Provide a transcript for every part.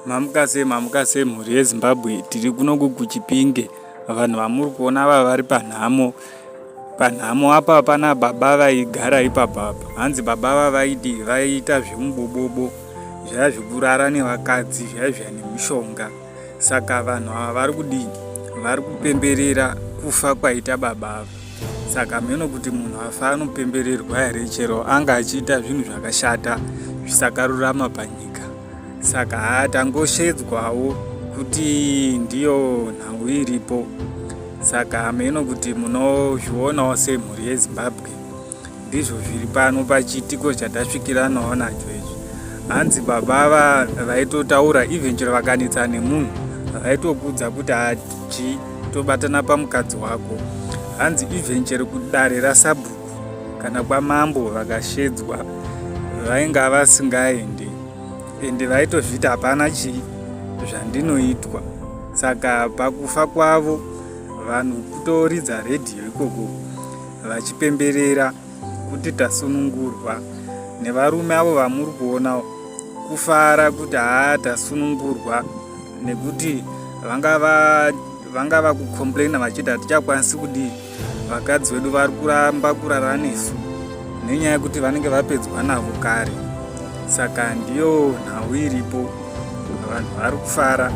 Mamuka sei mamuka sei mhuri yeZimbabwe tiri kuno kuGuchipinge vanhu vamuri kuona ava vari panhamo panhamo apa pana baba vaigara ipapo apa hanzi baba ava vaiti vaiita zvemubobobo zvaya zvekurara nevakadzi zvaya zvaya nemishonga saka vanhu ava vari kudii vari kupemberera kufa kwaita baba ava saka hameno kuti munhu afa anopembererwa here chero anga achiita zvinhu zvakashata zvisakarurama panyika saka hatangoshedzwawo kuti ndiyo nhau iripo saka hameno kuti munozvionawo semhuri yezimbabwe Ndizvo zviri pano pachiitiko chatasvikiranawo nacho izvi. Hanzi baba ava vaitotaura even chero vakanetsa nemunhu vaitokudza kuti hachi tobatana pamukadzi wako. Hanzi even chero kudare rasabhuku kana kwamambo vakashedzwa vainga vasingaendi ende vaitozviti hapana chii zvandinoitwa saka pakufa kwavo vanhu kutoridza redhiyo ikoko vachipemberera kuti tasunungurwa nevarume avo vamuri kuona kufara kuti haa tasunungurwa nekuti vanga va vanga vakucomplaina vachiti hatichakwanisi kudii vakadzi vedu vari kuramba kurara nesu nenyaya yekuti vanenge vapedzwa navo kare saka ndiyo nhau iripo vanhu vari kufara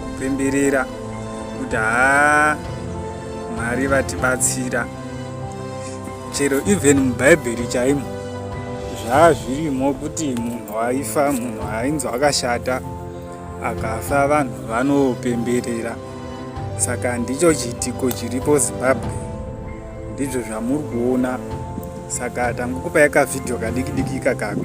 kupemberera kuti haa Mwari vatibatsira chero even mubhaibheri chaimo zvaa zvirimo kuti munhu aifa munhu ainzi akashata akafa vanhu vanopemberera saka ndicho chiitiko chiripo zimbabwe ndizvo zvamuri kuona saka tangokupai kavhidhiyo kadikidiki kakako